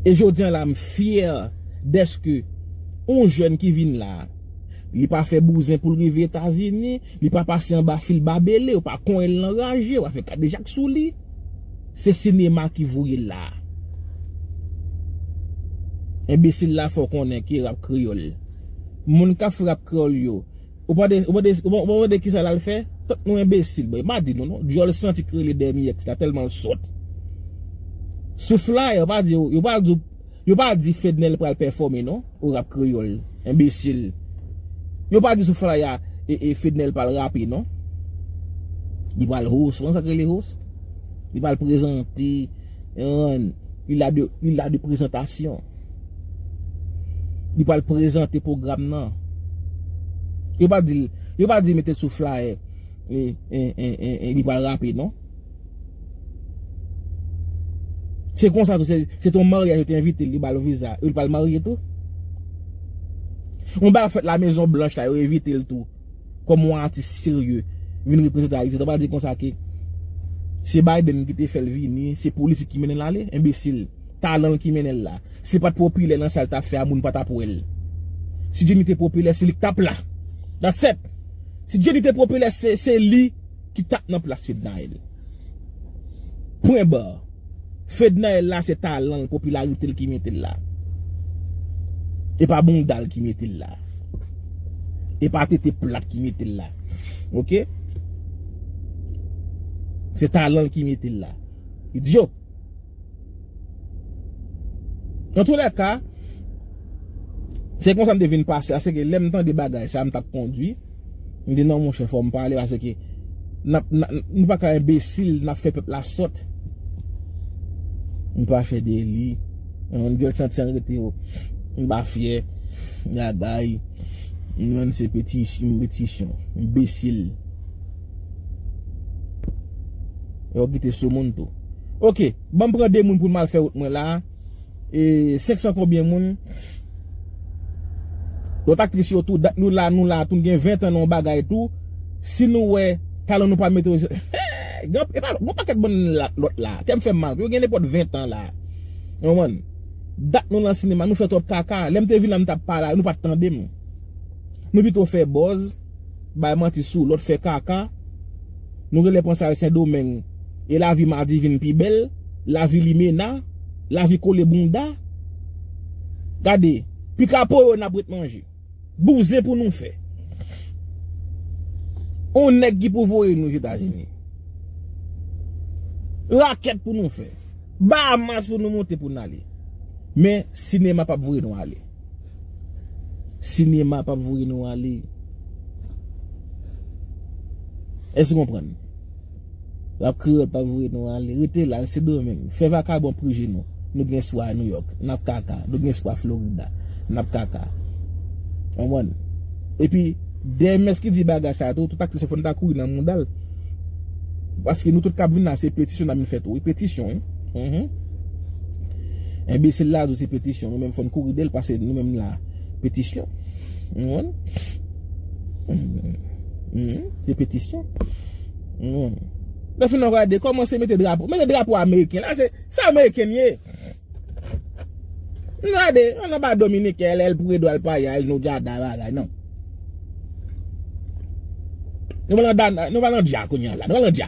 E jodi an la m fyè dèske yon jèn ki vin la, li pa fè bouzen pou l rive Etazini, li pa pase anba fil babele, yo pa konyen l nan raje, yo pa fè kadejak sou li. Se sinema ki voye l la. Enbesil la fè w konnen ki rap kreyòl. Moun k ap fè rap kreyòl yo. Ou pa de, ou pa de, ou pa mande kisa lal fè? Tank nou enbesil mwen pa di nou non, dyòl santi k rele dèmi èks la tèlman l sòt. Sou flaya yo pa di yo, yo pa di w, yo pa di Fednel pral pèfòme non o rap kreyòl, enbesil. Yo pa di sou flaya e e Fednel pral rape non. Li pral host, ou konn sa k rele host? Li pral prezante. Li la de Li la de prezantasyon Li pral prezante pwogram nan Yo pa di l Yo pa di l mete l sou flye E e e e e Li pral rape non Se konsa tou se Se ton marye yo te envite l Yo ba l viza Yo pral marye tou Yon bagay ap fèt la mezon blanch la Yo envite l tou Kòm yon atis serye vin reprezante Ayiti, sa vle di konsa ke se Biden ki te fè l vini, se politik ki mennen l ale? Enbesil. Talan l ki mennen l la. Si li pa t popilè nan sa li t ap fè a, moun pa t ap wè l. Si Jenny te popilè, se li ki t ap la. That's it! Si Jenny te popilè, se li ki t ap nan plas Fednaelle. Pwen barre. Fednaelle la se talan l popilarite l ki mete l la e pa bounda l ki mete l la e pa tete plat ki mete l la ok se talan l ki mete l la idiot nan tou lè ka se konsa m te vin pase a se ke lè m tande bagay sa m tap kondwi. M di non monchè fòm pale paske nou pa ka enbesil nap fè pèp la sòt. M pa fè deli. M dwe santi an rete yo. M pa fyè. M lagay. M menm se peti chan. Enbesil. Yo kite sou moun tou. Ok, banm pran 2 moun pou mal fè wout mwen la. e 500 konbyen moun lot aktris yo tou dat nou la nou la tou nou gen 20 an nan yon bagay tou si nou wè talan nou pa mete yo eeh epa gon paket moun lot la kèm fèm mal yo gen nenpòt 20 an la ou konprann dat nou lan sinema nou fè twòp kaka lèm te vin la m tap pale nou pat tande m nou pito fè bòz bay manti sou lot fè kaka. Nou rele Pwensal Sendomeng e lavi Madi vin pi bèl, lavi limena, lavi kole bounda. Gade, pikapo yo n ap ret manje. Bouzen pou nou fè. On nèg ki pou voye nou Zetazini. Rakèt pou nou fè. Bahamas pou nou monte pou n ale. Men, sinema p ap voye nou ale. Sinema pap voye nou ale. Èske ou konprann? Rap kreyòl pap voye nou ale. Rete la, se domeng. Fè vakabon prije nou. Nou gen espwa a Nouyòk. N ap kaka. Nou gen espwa Florida. N ap kaka. Konprann? E pi, DMS ki di bagay sa a tou, tout aktris yo fò n ta kouri nan mouda l. Paske nou tout k ap vin la se petisyon n ap vin fè tou wi. Petisyon wi. Enbesil la di se petisyon Nou menm fòn kouri del pase nou menm la Petisyon Se petisyon Nan fin nan gade Koman se mete drapo Mete drapo ameriken la se Se ameriken ye Nan gade An nan ba dominik el el pou edwal pa ya el nou dja da la la nan Nou va nan dja kounye la Nou va nan dja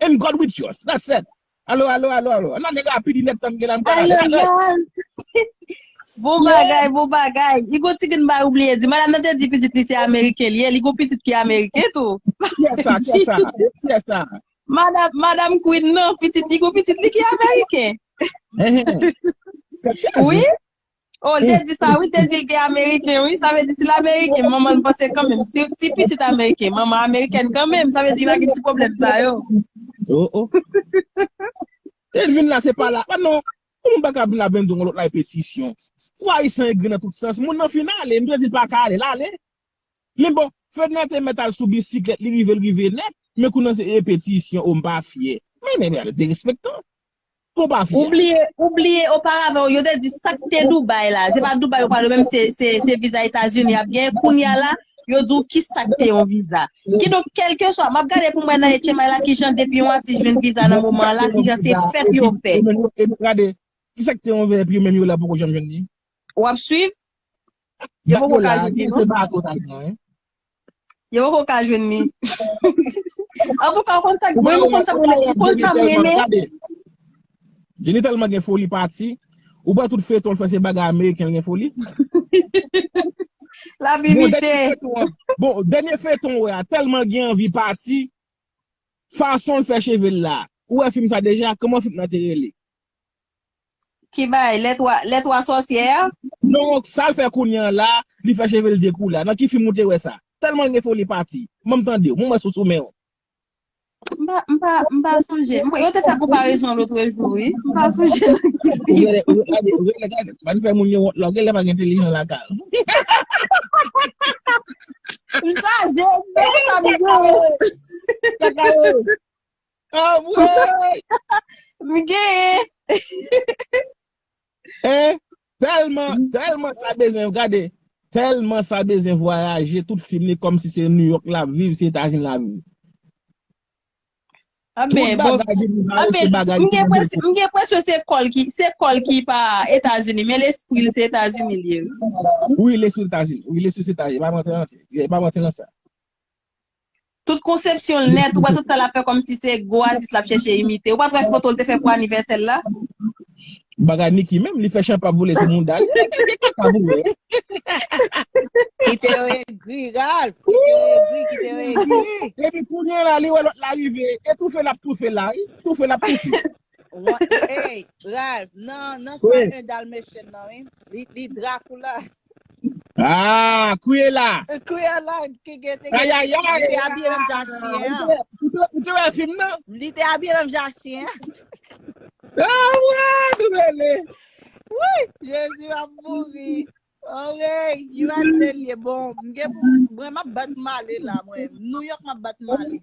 And God with us. That said. Alo alo alo alo. An nan nèg a pi di nèg tann gen la m pral ale. Alo yo. Bon bagay bon bagay. I gon ti grenn bagay ou bliye di. Madam nan te di pitit li se ameriken li ye. Li gon pitit ki ameriken tou. Kiyès sa? Kiyès sa? Kiyès sa? Madam Madam Queen nan pitit li gon pitit li ki ameriken. Kèt chaj. Oui. Oh l te di sa wi, l te di l te ameriken wi, sa vle di si l ameriken manman l panse kanmenm, si si pitit ameriken, manman amerikèn kanmenm, sa vle di pa gen ti pwoblèm sa yo. Oh oh. E l vin la se pa la, pa non, yon moun pa ka vin la bendon yon lòt la e petisyon. Fwa ayisyen egri nan tout sans, moun nan fin ale, m te di l pa ka ale, l ale. Men bon, Fedna te mèt al sou bisiklèt li rive l rive nèt, men kou nan se e petisyon, oh m pa fyè. Men nèg la derespektan. Pou pa fi a. Ou bliye oparavan yo te di sak te Dubai la se pa Dubai yo pale menm se viza etazini yap gen kounya la yo di w ki sak te yon viza ki donk kelkeswa map gade pou m wè nan etchenmay la kijan depi yon atis jwenn viza nan moman la kijan se fèt yo fè e nou gade ki sak te yon viza epi yo menm yo la poko janm jwenn li. Wap swiv? Yo poko ka jwenn li non. Yo poko ka jwenn li. An tou ka ou konn sa mwen ou konn sa mwen ou konn sa mwen renmen. Jenny tèlman gen foli pati. Ou pa tout feyton l fè se bagay ameriken l gen foli. Lap imite. Bon dènye feyton ou wè a tèlman gen anvi pati. Fason l fè cheve l la. Ou wè fim sa deja? Kòman fim nan te rele? Ki bay? Les trois les trois sorcières? Non sal fè kounye an la li fè chevel dekoule a nan ki film ou te wè sa tèlmanl gen foli pati banm tandew mwen wè sou sou menw. M pa m pa m pa sonje. M yo te fè konparezon lotre jou wi. M pa sonje nan ki fim. Ou genlè ou gade ou genlè gade pa nou fè moun yo wont la ou genlè pa gen television lakay ou. M chaje m pè sa m genyen. Kaka yo. Anmweyy! M genyen! Hein? Tèlman, tèlman sa bezwen, gade, tèlman sa bezwen vwayaje, tout fim li kòm si se New York lap viv, se Etazini lap viv. Tout bagay vin li vale se bagay li fè dekouvri. M gen presyon se kò l ki, se kò l ki pa Etazini, men lespri l se Etazini l ye wi. Wi lespri l Etazini, wi lespri l se Etazini, pa manti nan sa. Tout konsepsyon l nèt, ou wè tout sa lap fè kòmsi se gwo atis lap chèche imite. Ou pat wè foto l te fè pou anivèsè l la? Bagay Nicky menm, li fè chanpap vole sou mouda l, e pi gen kaka pou wè. Kite yo egri Ralph, kite yo egri, kite yo egri. Epi kounye la li wè lòt la rive, e toufe lap toufe la wi, toufe lap toufe. Ey Ralph nan nan soy 1 dalmatian nan wi, li drakoula. Ah, Cruella! Cruella ki gen te gen li te abiye menm jan chyen an. Ou te wè film nan? Li te abiye menm jan chyen an. Ah ouais, nou mele. Wouyy, Jezi map mouri. Orey, USA liye bon. Mgen pou mwen map bat male la mwen. New York map bat male.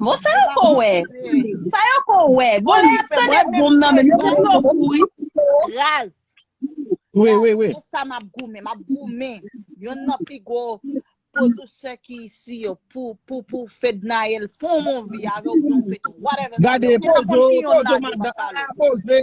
Bon sa yo ko wè? Sa yo ko wè? Bon lè yap tande boom nan men yo pa di yo fou wi. Ralph. Oui, oui, oui. Pou sa map goumen, map goumen. Yon nan pi gwo producer ki isi yo pou pou pou Fednael fon mon vi avè ou yon fèt whatever. Gade pozo, pozo madan, pozo.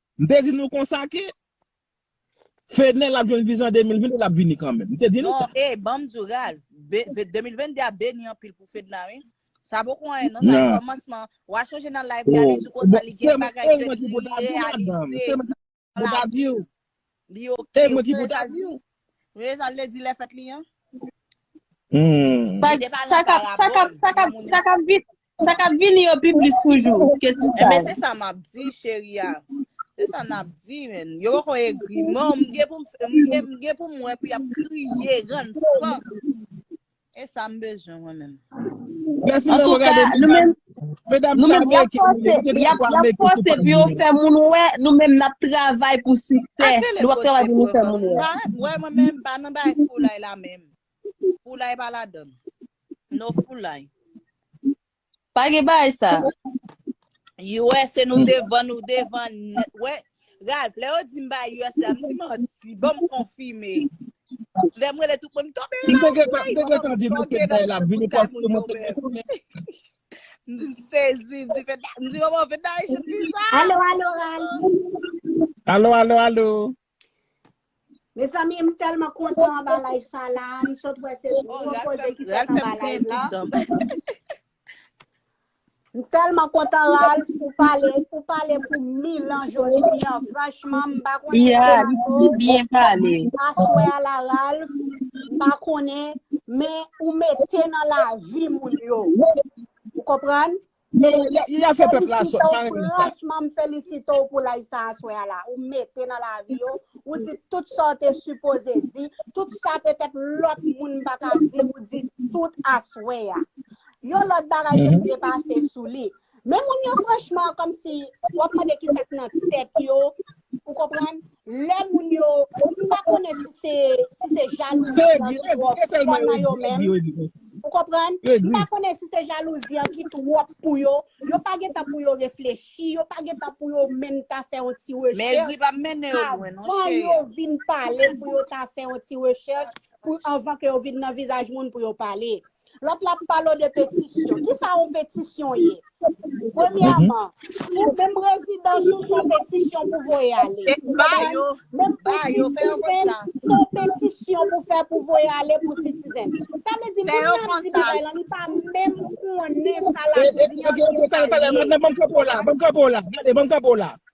M te di nou konsa ke Fenel ap jwenn viza an 2022 l ap vini kanmenm. M te di nou sa. Non, ey, banm di w Ralph, 2022 a beni anpil pou Fedna wi. Sa poko anyen non, sa se kòmansman. Wa chanje nan live li a li di w konsa li gen bagay ke li reyalize nan lavi l. Li ok ou ki pou ta diw. Nou ye sa lady lè fèt li an. Sa kap vini yo pi plis toujou ke ti sa. Enben se sa map di cheri a. Se sa nap di men. Yo poko egri. Mwen m gen pou m wè pou yap kriye rann san. E sa m bezwen mwen menm. An tou ka, nou menm, nou menm y ap fòse, y ap fòse pou yo fè moun wè, nou menm n ap travay pou siksè, nou ap travay pou nou fè moun wè. Wè mwen menm m pa nan bagay foulay la menm. Foulay pa ladan m. No foulay. Pa gen bagay sa. Usa nou devan nou devan net we Ralph lè yo di m bay usa m di manti banm konfime lè m rele tout moun tonbe M te Ralph gentan, m te gentan di nou se Fednaelle ap vini paske mwen te gen konnen. m di m sezi m di Fedna m di manman Fedna Haitian visa Alo, alo, Ralph. Alo, alo, alo. Mezanmi m telman kontan anba live sa la, m sot wè se oh, gwo koze ki fèt anba live la. M telman kontan Ralph pou pale, pou pale pou mil an jodi an, franchman m pa konnen. Ya, m si byen pale. Aswe a la Ralph, m pa konnen, men ou mete nan la vi moun yo. Ou konprann? Franchman m felisite w pou live sa aswè a la. Ou mete nan lavi yo, ou di tout sa w te sipoze di, tout sa petèt lòt moun pa ka di, ou di tout aswè a. Yon lòt bagay ke m vle pase sou li, men moun yo franchman kòmsi w ap mande ki sa k nan tèt yo, Ou konprann? Lè moun yo, m pa konnen si se, si se jalouzi an ki twò fò nan yo menm. Ou konprann? M pa konnen si se jalouzi an ki twò pou yo. Yo pa gen tan pou yo reflechi, yo pa gen tan pou yo menm ta fè yon ti rechèch avan yo vin pale pou yo ta fè yon ti rechèch pou anvan ke yo vin nan vizaj moun pou yo pale. Lòt la ap pale w de petisyon. Ki sa yon petisyon ye? Premyèman, pou menm rezidans ou, se yon petisyon pou voye ale. E ba yo, ba yo, fè yo konn sa. Se yon petisyon pou fè pou voye ale pou sitizèn. Sa vle di, moun nan di bagay lan, li pa menm konnen sa l ap di an ki sa l ye. Tande, tande, tande, banm kanpe w la, banm kanpe w la, banm kanpe w la.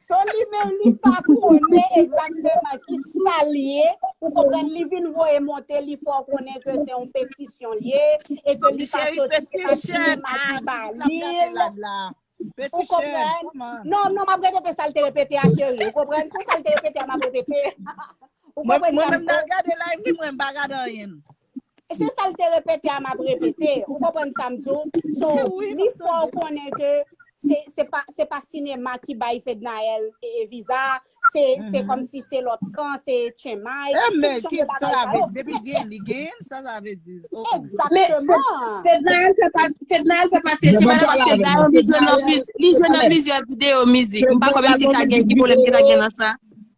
Son li menm li pa konnen egzakteman ki sa l ye, ou konprann, li vin voye monte li fè w konnen ke se yon petisyon l ye, e ke li pa soti se pa sinema ki ba li l. Ou konprann? Non, non, m ap repete sa l te repete a cheri, ou konprann? Tout sa l te repete a m ap repete. Mwen menm nan gade live li mwen m pa gade anyen. E se sa l te repete a m ap repete. Ou konprann sa m di w? So, li fò w konnen ke se pa sinema ki bay Fednaelle viza a, se kòmsi se lòt kan, se tchenmay, tout jan de bagay sa yo. E men, ki sa sa vle di? Depi l genyen, li genyen? Ki sa sa vle di? Egzakteman! Men, Fednaelle fè pati de tchenmay la paske Dayon li jwe nan plizyè videyo mizik. M pa kwè menm si ta gen ki pwoblèm ki ta gen nan sa.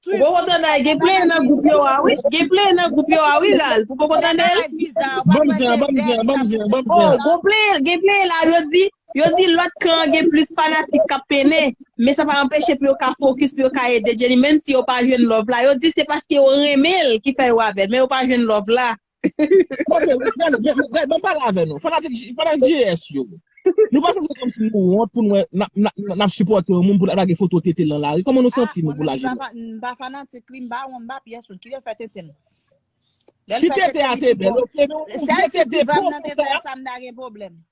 Pou poko tandal gen plen nan group yo a wi gen plen nan group yo a wi ral pou poko tandel. Banm zen an banm zen an banm zen an banm zen an. Oh gon plen gen plen la yo di yo di lot kan an gen plis fanatik kap pene men sa pa anpeche pou yo ka fokis pou yo ka ede Jenny menm si yo pa jwenn love la yo di se paske yo renmenl ki fè yo avèl men yo pa jwenn love la. Kote, gad, banm pale avè nou, fanatik, fanatik GS yo. Nou pa santi kòmsi nou wont pou nou wè nap sipòte yon moun pou lap lage foto tete l nan lari? Kòman nou santi nou pou lajè nou? Ah, mwen menm m pa fanatik li, m pa wont, m pa pyès moun. Kilè l fè tete l? Si tete a te bèl, ok, men ou vle tete pou ou fè sa? Si diva m nan te fè sa, m ta gen pwoblèm.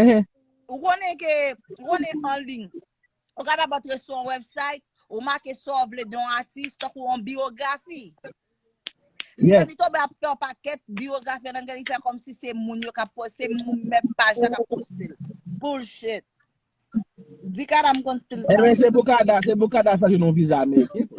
Ehe. Ou konnen ke, ou konnen an liy, ou kapab antre sou yon website, ou make sa w vle de yon atis, tankou yon biyografi. Li menm, li tonbe ap fè yon pakèt biyografi an angle, li fè kòm si se moun yo k ap poste, se moun menm paj la k ap poste l. Bullshit. Di kada m konn stil sa. Enben, se pou kada, se pou kada fè jwenn yon viza ameriken.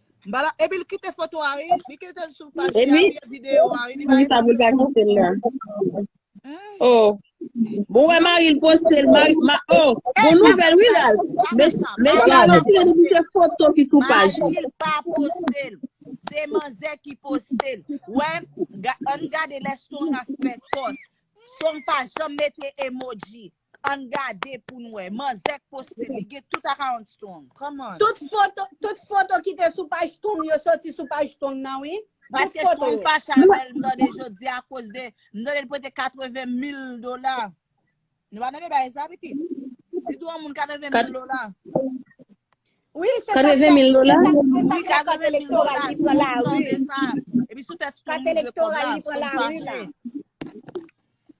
Bala epi l kite foto a wi. Li kite l sou paj li a wi e video a wi. Li pa epi l sou. Oh. Bon wè mari l poste l. Oh. Bon nouvèl wi la. Mesye a retire depi se foto ki sou paj li. Mari l pa poste l. Se manzè ki poste l. Wè. Ann gade lè Song ap fè kòs. Song pa janm mete emoji. Ann gade pou n wè. Manzè k poste li gen tout akawont strong. Come on. Tout foto ki te sou paj strong yo soti sou paj strong nan wi. Paske strong fache avè l m tande jodi a koz de m tande l prete 80 mil dola. Nou pa tande bagay sa pitit. Li dwe yon moun 80 mil dola. Wi se sak fè. 80 mil dola? Se sak fè kat elektoral li pran la ri. Epi sou tèt strong li dwe kob la. Strong fache.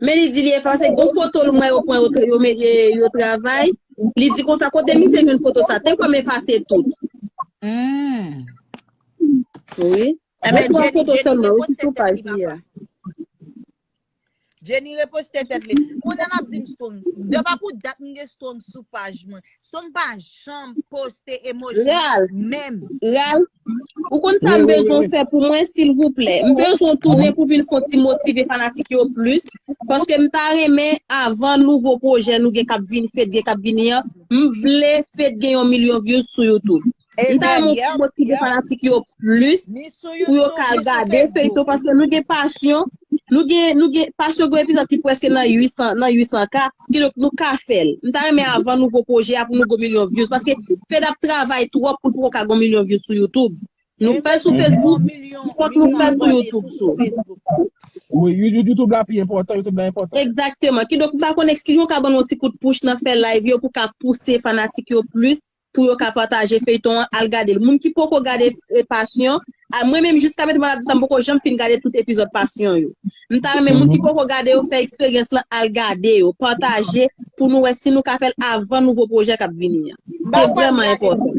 Men li di li efase gwo foto l mwen yo pran yo mete yo travay, li di konsa kote misye jwenn foto sa, te kwè m efase tout. Wi. Ebyen Jenny reposte tèt li papa. Jenny reposte tèt li. Kounye l ap di m strong. Depa pou dat m gen strong sou paj mwen. Som pa janm poste emoji Real, menm. Real, ou konn sa Oui, m oui, oui, bezwen oui. fè pou mwen silvouplè? M bezwen tounen pou vin fon ti motive fanatik yo plis, paske m ta renmen avan nouvo pwojè nou gen kap vini, Fed gen kap vini an, m vle Fed gen yon milyon views sou YouTube. M ta renmen ou motive fanatik yo plis pou yo ka gade feyton paske nou gen pasyon nou gen pasyon gen epizòd ki preske nan 800 k kidonk nou ka fè l m ta renmen avan nouvo pwojè a pou nou gen milyon vyouz paske Fed ap travay twòp pou l poko ka gen milyon vyouz sou youtoub nou fè l sou facebook fòk nou fè l sou youtoub tou youtoub la pi enpòtan youtoub la enpòtan egzakteman kidonk m pa konnen kijan w ka ban nou yon ti kout pouch nan fè live yo pou ka pouse fanatik yo plis Pou yo ka pataje feyton an al gadel moun ki poko gade passion a mwen menm jiska metem al ap di sa m poko janm fin gade tout epizòd passion yo m ta renmen moun ki poko gade yo fè eksperyans lan al gade yo pataje pou nou wè si nou ka fèl avan nouvo pwojè kap vini an se vrèman enpòtan.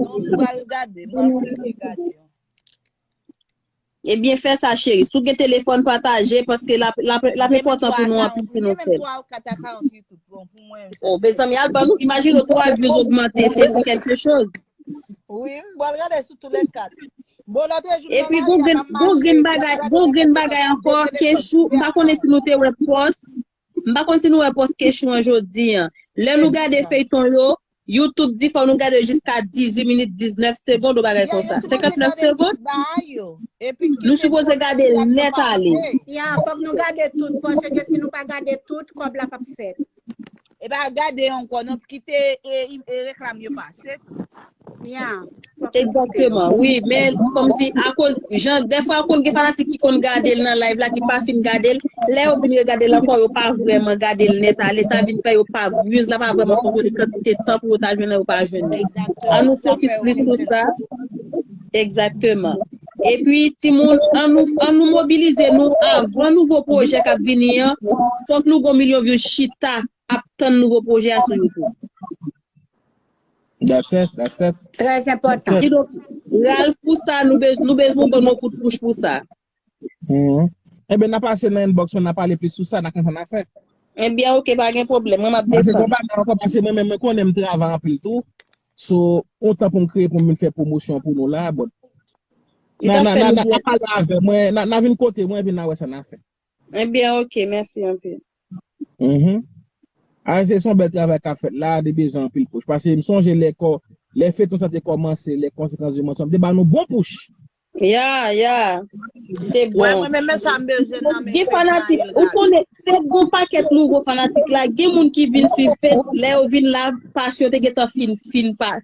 Ebyen fè sa cheri. Si w gen telefòn pataje paske lap enpòtan pou nou anpil si nou fè l. Oh mezanmi al ban nou imajine w 3 vues ogmante se pou kèlke choz. Epi gon grenn bagay ankò Kechou m pa konnen si nou te wè pòs M pa konn si nou wè pòs kechon an jodi an. Lè nou gade feyton yo, YouTube di fò nou gade jiska 18 minit 19 segond ou bagay konsa. 59 segond? Nou sipoze gade l nèt ale. Ya, fòk nou gade tout pòsye ke si nou pa gade tout, kòb la pap fèt. Epa gade ankò non, kite reklam yo pase. Kounya fòk li kite nou. Exactement wi men komsi akoz jan dèfwa konn gen fanatik ki konn gadel nan live la ki pa fin gadel lè yo vin regadel ankò yo pa vrèman gadel nèt ale sa vin fè yo pa views la pa vrèman kontole kantite tan pou yo ta jwenn nan yo pa jwenn nan an Exactement nou sa fè fokis yo plis sou konprann. sa Exactement epi timoun an nou an nou mobilize nou avan nouvo pwojè kap vini an fòk nou gon milyon views chita Ap tann nouvo pwojè a sou youtube. That's it, that's it. Très important. Kidonk Ralph pou sa nou bezwen ou ban nou yon kout pouch pou sa. Enben na pase nan inbox mwen na pale plis sou sa na konn sa na fè. Enben ok pa gen pwoblèm mwen map desann. Pase konpa nan ankò pase mwen menm mwen konnen m travay anpil tou so yon tan pou m kreye pou m vin fè pwomosyon pou nou la but na pale avè mwen na vin kote mwen epi na wè sa na fè. Mwen byen ok mèsi anpil. Uhmm Aise son bèl travay kap fèt la li bezwen anpil pouch pase m sonje lè kò lè feyton sa te kòmanse lè konsekans di monsonm te ba nou bon pouch. Ya ya te bon. Wè mwen menm men sa m bezwen nan men feyton an li la. Fed gon pakèt nouvo fanatik la gen moun ki vin swiv fed lè yo vin la pas yo te gentan fin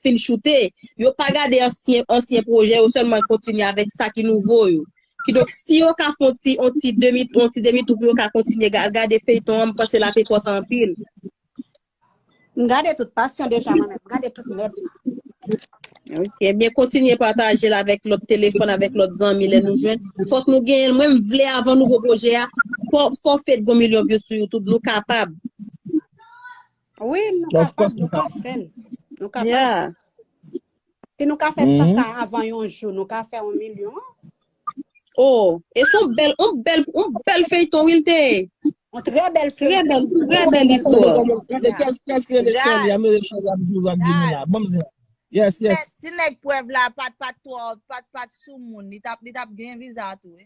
fin choute yo pa gade ansyen pwojè yo sèlman kontinye avèk sa ki nouvo yo Kidonk si yo ka fon ti on ti demi on ti demi tou pou yo ka kontinye al gade feyton an m panse lap enpòtan anpil. M gade tout pasyon deja mwen menm, m gade tout nèt li. Ok, ebyen kontinye patajel avèk lòt telefòn, avèk lòt zanmi lè nou jwenn. Fòk nou genyenl, mwen m vle avan nouvo pwojè a, fò fò fed gon milyon views sou youtube, nou kapab. Wi nou kapab, nou ka fèl. Nou kapab. Si nou ka fè 100 ka avan yon jou, nou ka fè 1 milyon. Oh, e son bèl, on bèl, on bèl feyton wi l te ye. On trè bèl feyton. Trè bèl, trè bèl istwa. Kèsk rele Sherley a, mezanmi Sherley ap joure ak Deni la. Banm zen. Yes, yes. Si nèg prèv la pat pat twò, pat pat soumoun, li tap li tap gen viza tou wi.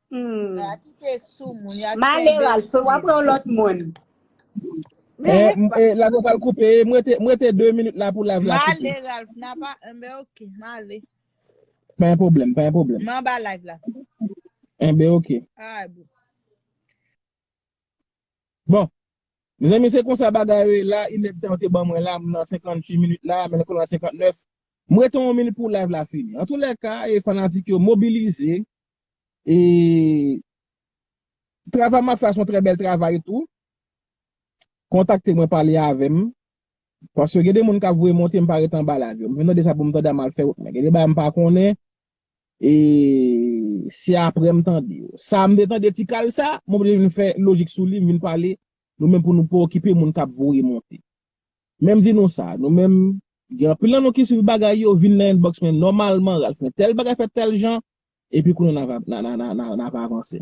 Sa ki te sou moun ya kenbe. Maleral so wap pran lot moun. Eh lago pral koupe eh m rete 2 minit la pou live la koupe. Male Ralph na pa enben ok male. Pa gen pwoblèm pa gen pwoblèm. M anba live la. Enben ok. Alright boo. Bon Mezanmi se konsa bagay yo ye la inèd tan yo te ban mwen la m nan 58 minit la men konn a 59 m rete yon minit pou live la fini antoulèka fanatik yo mobilize E travay map fè a son trè bèl travay tou. Kontakte mwen pale avèm. Paske gen de moun kap voye monte mpa ret anba live yo. M vin tande sa poum tande a mal fè wout mwen. Gen de bagay mpa konnen e se aprè m tande yo. Sa m te tande ti kal sa, m oblije vin fè lojik sou li m vin pale nou menm pou nou pa okipe moun kap voye monte. Men m di nou sa, nou menm, gen anpil nan nou ki swiv bagay yo, vin nan inbox mwen nòmalman, Ralph men tèl bagay fèt tèl jan, epi kounye a n ap avanse.